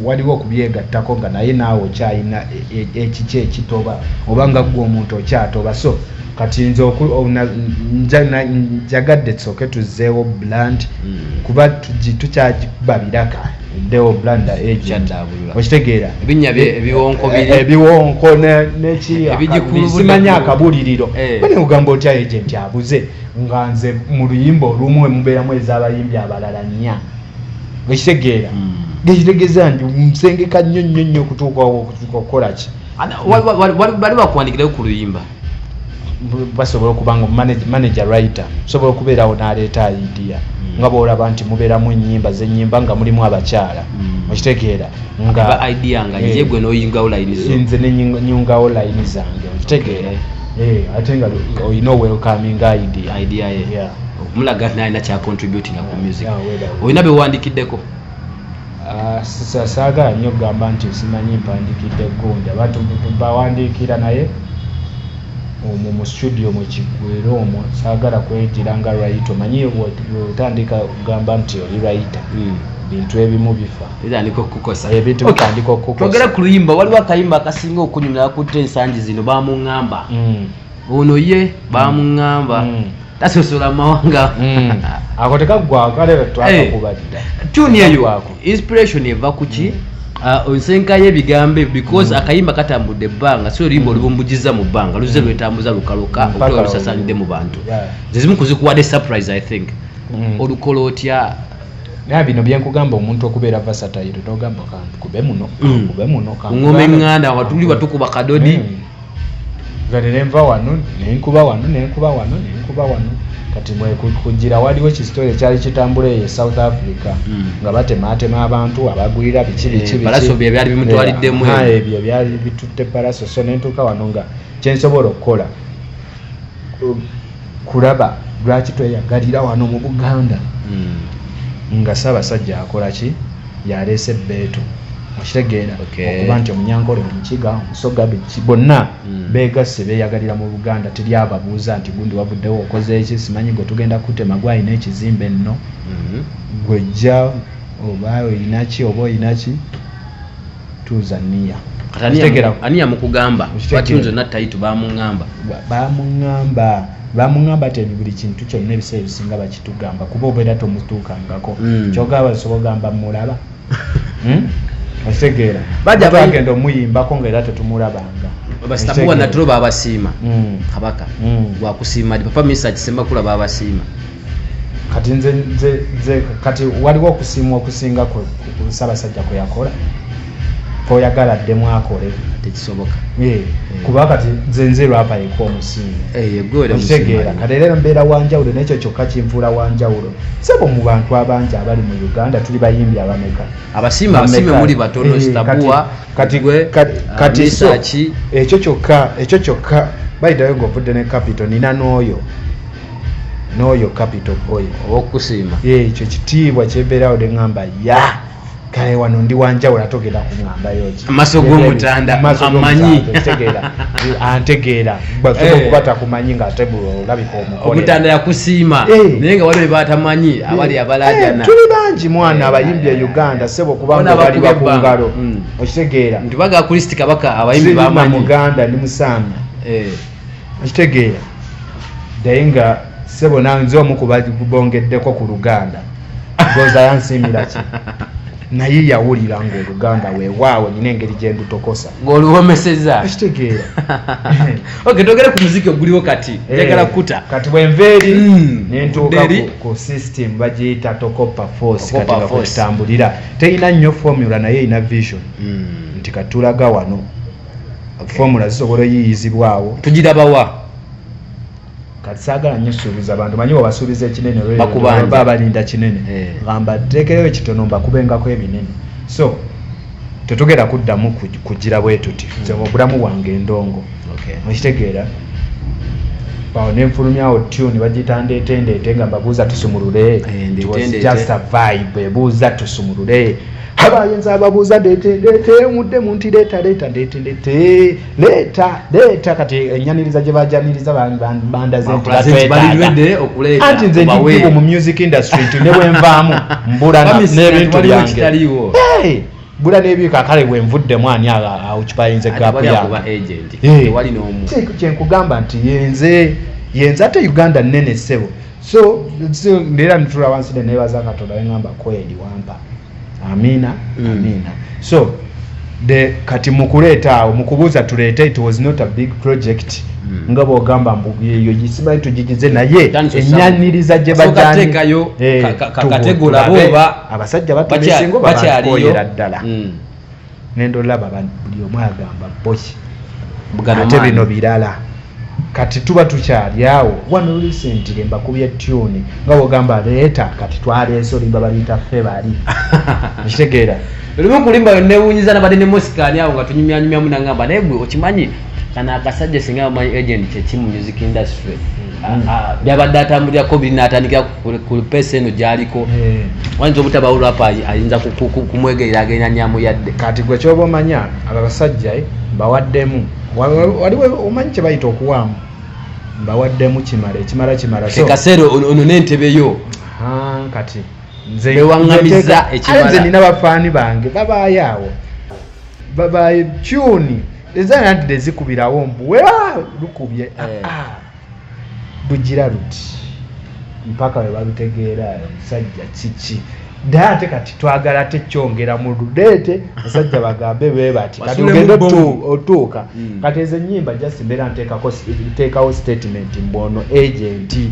waliwo okubyegattako nga naye naawe okyalina e, e, ekiki ekitoba oba nga gwe omuntu okyatoba so kati nze njagadde soke tuzeewo bland mm. kuba tukyagibabiraka deo blanda agent okitegeera ebinya ebiwonko biri eh, ebiwonko nekisimanya akabuliriro eh. bane ogamba otya agent abuze nga nze mu luyimba olumu emubeeramu ez'abayimbi abalala nnya okitegeera hmm. gekitegeza nti nsengeka nnyo nnyo nnyo okutuukawo okutuuka okukola ki bali bakuwandikirayo ku luyimba basobola okuba nga manager writer osobola okubeerawo n'aleeta idea hmm. nga bwolaba nti mubeeramu enyimba zenyimba nga mulimu abakyala hmm. okitegeera nganze nenyungawo layini zange okitegeera eh, eh, ate nga olina owelcoming idea mulaga nalina kyacontributinga ku music olina bewandikiddeko Ah, saagala nnyo okugamba nti simanyi mpandikidde gonda bawandiikira naye omwo mu studio mu kiggwera omwo saagala kwejira nga rayita omanyi otandika okugamba nti oli rayita hmm. bintu ebimu bifabitandika okukosatwogera ku luyimba waliwo akayimba akasinga okunyumya akutte ensangi zino bamuŋamba hmm. ono ye bamuŋŋamba hmm. tasosola mawanga hmm. ako tekaggwakalerakubalira eh, tuni eyo inspiration eva kuki hmm. ah, onsenka yebigambo because akayimba katambudde ebbanga si oluyimba olubumbujiza mu bbanga luzze lwetambuza lukaloka okuba lusasanidde mu bantu zezimu kuzikuwadde surprise i think olukola otya naye bino byenkugamba omuntu okubeera vasatayiro togamba kube muno kube muno ngoma eŋŋanda watuli watukuba kadodi nze nenva wano nenkuba wano nenkuba wano nenkuba wano kati mwekugira waliwo kisitole kyali kitambula eyo e south africa hmm. nga batematema abantu abagwira biki bikibyali bimutwaliddemu ebyo byali bitutte palaso so nentuuka wano nga kyensobola okukola kulaba lwaki tweyagalira wano mu buganda mm. nga ssaabasajja akola ki yaleese ebbeetu okitegeera okuba nti omunyankole omukiga omusoga biki bonna hmm. begasse beyagalira mu buganda teri ababuuza nti gundi wavuddewo okoze eki simanyi gwe tugenda kutema gwalina ekizimba enno hmm. gwejja oba olinaki oba olinaki tuuza niya ani yamukugamba batunze na taitu bamungamba bamungamba bamungamba ti buli kintu kyonna ebiseera ebisinga bakitugamba kuba obeera tomutuukangako hmm. kyogamba osobola ogamba mulaba hmm? otegeera bagenda omuyimbako nga era tetumulabanga basitabuwa naturo babasiima hmm. kabaka gwakusiima papa misa kisemba kula babasiima kati nze nze nze kati waliwo okusiima okusinga ku ssabasajja kwe yakola kwoyagala ddemu akole tekisoboka eh, eh. kuba kati nze nze lwapa yeka omusiima eh, okitegeera kati era mbeera wanjawulo nekyo kyokka kinfuula wanjawulo sebo mu bantu abangi abali mu uganda tuli bayimbi abameka abasiima abasiime muli batono stabua kati gwe kati ah, so ekyo kyokka ekyo kyokka bayidayo ngaovudde ne kapito nina n'oyo noyo capital boy owokusiima ekyo kitiibwa kyebeerawo de ngamba ya kale wano ndi wanjawula togenda kuŋambayoki amaso gomutanda amanyi antegeera eh. okuba takumanyi nga ate olabika omukomutanda yakusiima eh. naye nga waliwo batamanyi eh. abali abalajana tuli bangi mwana abayimbi e uganda sebo kubanga bali bakungalo hmm. okitegeera nti baga kristi kabaka abayimbi bamanyi muganda ndi musaamya okitegeera naye nga sebo nanze omu kubabongeddeko ku luganda goza yansiimira ki naye yawulira nga oluganda wewaawo nyina engeri gyendutokosa ngaoluwomeseza ekitegeera oke togere ku muziki oguliwo kati eh, njagala kukuta kati bwenva eri hmm, nentuuka ku system bagiyita tokopa force kati nga kwetambulira terina nnyo formula naye erina vision hmm. nti katulaga wano formula zisobola oyiiyizibwa awo tugirabawa kati saagala nnyo suubiza bantu manyi wabasuubiza ekinene olwba balinda kinene eh. gamba teekeyo ekitono mbakubengako ebinene so tetugera kuddamu kugira bwe tuti nze hmm. obulamu bwange endongo okitegeera awo nenfulumyawo tune bagiyita ndeetendeete nga mbabuuza tusumulule eh, just a vibe ebuuza tusumulule aba ayinza ababuuza detendetewudde munti leeta leeta detendete leeta leeta kati enyaniriza gye bajaniriza bandaze ntianti nze ndikibu mu music industry nti ne bwenvaamu mbula n'ebintu byange bula n'ebintu akale bwenvuddemu ani aucupayinze gapu yange kyenkugamba nti yenze yenze ate uganda nene ssebo so still ndera nitula wansi ne nebaza katonda ngamba kweli wampa amina mm. amina so the kati mukuleta awo mukubuza tuleta it was not a big project mm. nga bogamba mbu yeyo gisimanyi tugigize naye enyaniriza gye bajaniyo eh, kategula boba abasajja batulesingo babakoyera ddala mm. ngenda olaba buli omu agamba boki ate bino birala kati tuba tukyali awo one recent lemba kubya tune nga wogamba leeta kati twaleese olimba baliita ffe bali nkitegeera lumu kulimba newunyiza nabadde ne mosikani awo nga tunyumyanyumyamu nangamba naye gwe okimanyi kano akasajja singa bamanyi agent kyeki mu music industry hmm. byabadde atambulirako biri natandikira ku pesa eno gyaliko hmm. wayinza obutaba olwapa ayinza kumwegerera agenda nyamu yadde kati gwe kyoba omanya abo abasajja eh, bawaddemu waliwo omanyi kyebayita okuwaamu bawaddemu kimala ekimala kimala kekaseera ono nentebe yo kati nzewaamiza ekimalanina bafaani bange babaayo awo babaayo kyuni eza nadde zikubirawo mbu weba lukubye eh. ah, ah. lugira luti mpaka webalutegeera omusajja kiki naye ate kati twagala ate kyongera mu ludeete basajja bagambe bebati kati ogende otuuka hmm. kati ezo enyimba just mbeera nteekawo statement mbu ono agenti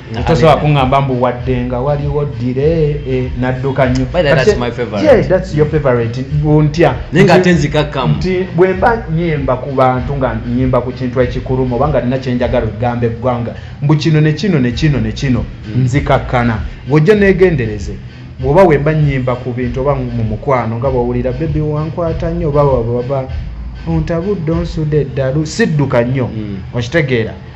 tosobola kuŋamba mbu wadde nga waliwo dire eh, nadduka nnyo nti bwemba nyimba ku bantu nga nyimba ku kintu ekikulumu oba nga nina kyenjagala okugamba eggwanga mbu kino nekino nekino nekino hmm. nzikakkana ng'ojja negendereze oba wemba nyimba ku bintu oba mu mukwano nga bwowulira bebi wankwata nnyo oba wababa ontabudde onsuda eddalu sidduka nnyo hmm. okitegeera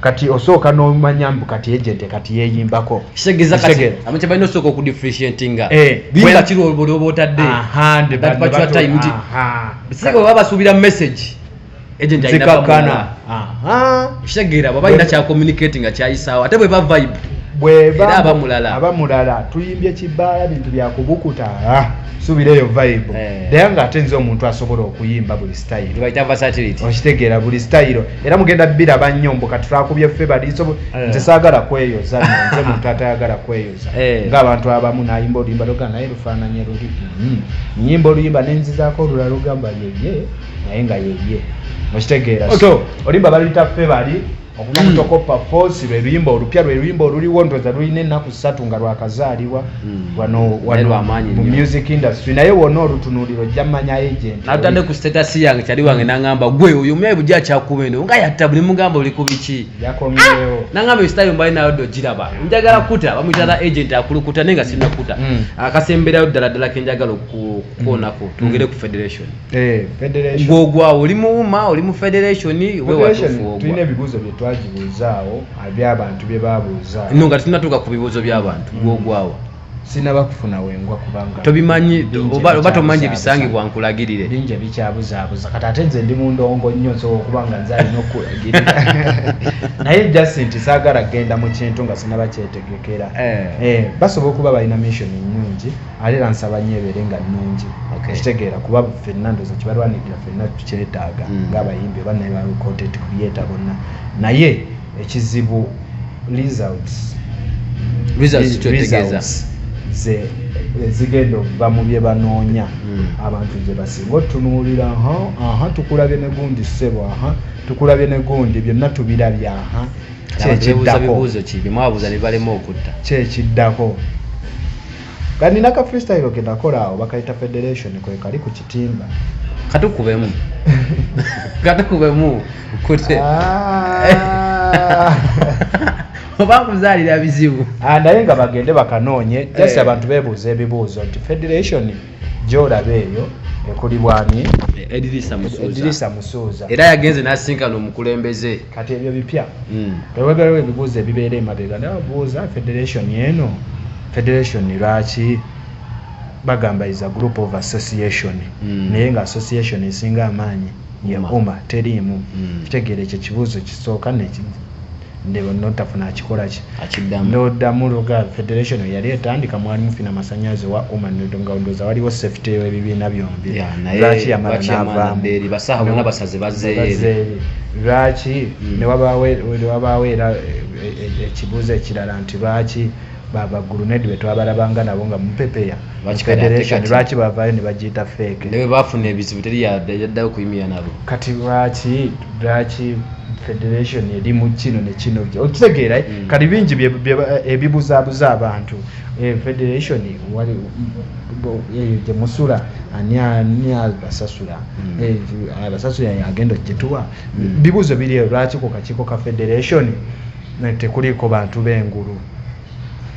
kati osooka nomanya mbu kati ejente kati yeyimbako kitegeza kati amukye balina osooka okudifferentiatinga eh, bimba kiri olwoba otadde sibwe baba basuubira message ejenti ayinakakana kitegeera bwaba alina kyakomunicati nga kyayisaawo ate bweba vibe bweba abamulala abamulala tuyimbye kibaala bintu byakubukuta ah, subira eyo vibe eh. naye nga ate nze omuntu asobola okuyimba buli style okitegeera buli style era mugenda biraba nnyo mbu kati twakubye ffe baliiso eh. nze saagala kweyoza nze muntu atayagala kweyoza eh. ngaabantu abamu nayimba oluyimba loga naye lufaananye luli hmm. nyimba oluyimba nenzizaako olulala lugamba yeye naye nga yeye mukitegeera so oluyimba baluyita ffe bali okuva mutokoppa hmm. fosi lweluyimba olupya lweluyimba oluliwo ntoza lulina ennaku satu nga lwakazaalibwa hmm. wanomu music industry naye wona olutunuliro ojja manya agent natande ku status yange kyali wange nangamba gwe oyo omuyayi bujja akyakuba eno nga yatta buli mugamba oli ku biki yakomyewo ah! nangamba esitayo mbali nayo dde ogiraba njagala kuta bamuyitala agent akulukuta naye nga sirina kuta hmm. akasemberayo ddala ddala kenjagala okukoonako hmm. twongere ku federation eh, gwogwawo oli muwuma oli mu federation wewatulina ebibuuzo byetwagibuuzaawo byabantu bye babuuza no nga tunatuuka ku bibuuzo by'abantu mm. gwogwawo sinaba kufuna wengwa kubanga tobimanyi oba tomanyi ebisangibwa nkulagirire bingi ebikyabuzaabuza kati ate nze ndi mundongo nnyo nsobola okuba nga nze alina okukulagirira naye jasinti saagala kgenda mu kintu nga sinaba kyetegekera eh. Eh, basobola okuba balina missioni nnungi ate era nsaba nnyo ebeere nga nnungi okitegeera kuba fenna ndoza kibalwanirira fenna tukyetaaga mm. ngaabayimbi oba naye ba content creator bonna naye ekizibu results ze ezigenda okuva mu bye banoonya mm. abantu gye basinga otunuulira aha tukulabye ne gundi ssebo aha tukulabye ne gundi byonna tubirabye aha kyekiddako kyekiddako Kati nina ka freestyle ke nakola awo bakayita federation kwe kali ku kitimba. Katukubemu. Katukubemu. Kute. Ah. Oba kuzalira bizibu. Ah naye nga bagende bakanoonye just eh. abantu bebuuza ebibuuzo nti federation gyolaba eyo ekuli bwami edirisa musuuza era yagenze nasinkana omukulembeze kati ebyo bipya hmm. eweberawo ebibuuzo ebibeera emabega naye obuuza federation eno federation lwaki bagamba is a group of association hmm. naye nga association esinga amaanyi ye uma teriimu hmm. kitegeera ekyo ekibuuzo kisooka nekii ndeba notafuna akikolaki akiddamu noddamu loga federation yali etandika mwali mufina masanyazi wa uma nodonga ondoza waliwo safety ebibiina byombi lwaki yamala navaamu lwaki newabaawo era ekibuuzo ekirala nti lwaki Baba grenade betwabalabanga nabo nga mupepeya Lwaki kale ate federation kati? lwaki bavayo ne bagiyita fake ne bwe bafuna ebizibu teri ya- yaddayo kuyimira nabo kati lwaki lwaki federation eri mu kino ne kino okitegeera eh? Mm. kati bingi bye- bye ba- ebibuzabuza abantu Eh, federation wali bo- eyo gye musula ani ani abasasula Mm. Eh, abasasula agenda okugituwa Mm. bibuuzo biri eyo lwaki ku kakiiko ka federation tekuliiko bantu b'engulu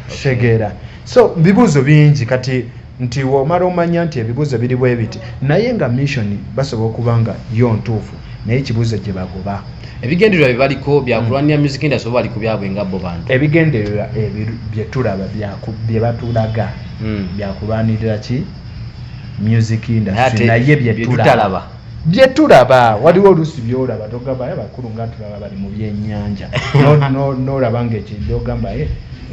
kitegeera so bibuuzo bingi kati nti womala omanya nti ebibuuzo biri bwe biti naye nga mission basobola okuba nga yo ntuufu naye ekibuuzo gye bagoba ebigendererwa bye baliko byakulwanira hmm. music industry oba bali ku byabwe nga bo bantu ebigendererwa bye tulaba bye batulaga hmm. byakulwanirira ki music industry naye bye tutalaba byetulaba waliwo oluusi byolaba togabayo abakulu nga tulaba bali mu byenyanja nolaba nga ekyo byogambaye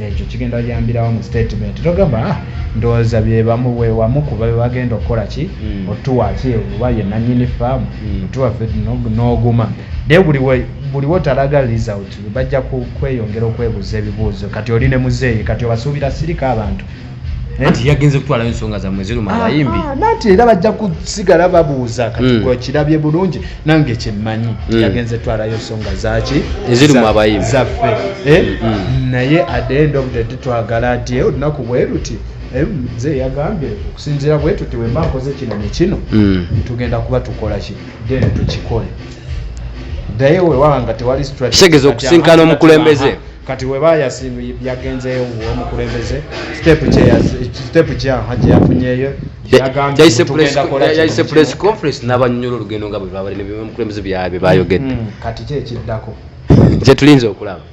ekyo kigenda yambirawo mu statement togamba ah, ndowooza byebamuwewamu kuba bebagenda okukola ki hmm. otuwaki oba ye nanyini faamu hmm. otuwafe n'oguma naye buli wotalaga result bajja kweyongera okwebuuza ebibuuzo kati oli ne muzeeyi kati obasuubira sirika abantu Eh? anti yagenze kutwalayo ensonga zamwe eziruma ah, abayimbi ah, nanti era bajja kusigala babuuza katikirabye hmm. bulungi nange kyemmanyi hmm. yagenze twalayo ensonga zaki eziruma abayimbi zaffe eh? hmm, naye adendo obudede twagala nti eh, olunaku bweruti nze yagambye okusinzira bwetuti wemba nkoze kino nekino tugenda kuba tukola ki then tukikole naye wewanga tewali strategeza okusinkana omukulembeze kati weba yagenzeyo omukulembeze sitepu kyaha kyeyafunyeyo yayise press conference n'abanyonyola olugendo nga bwebabali nebimukulembeze byabe bayogedde hmm, kati ki ekiddako kyetulinza okulaba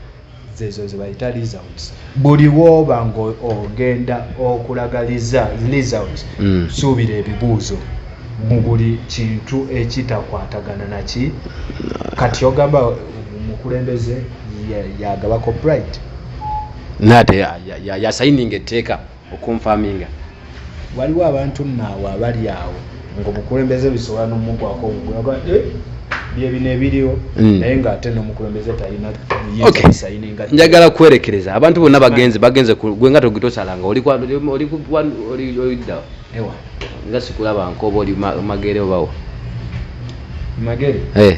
zezo zebayita results buli woba ngaogenda okulaga results hmm. suubira ebibuuzo mu buli kintu ekitakwatagana naki kati ogamba omukulembeze yagaba copyright naye ate yasayininga etteeka okunfaminga waliwo abantu naawe abali awo ngaomukulembeze bisobola nomugwako ogugulaga eh, byebino ebiriwo hmm. naye ngaate nomukulembeze talinasayininga njagala kwerekereza abantu bonna bagenze bagenze gwe nga togitosalanga olidda nga sikulaba nkoba oli magere obawo magere eh.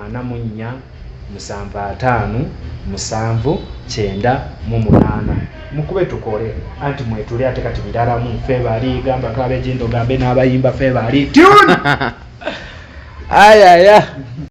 ana mu nnya, musanvu ataano, musanvu, kyenda mu munaana. Mukube tukole anti mwetuli ate kati biraramu fe bali gamba kabejindo gambe n'abayimba fe bali tune ayaya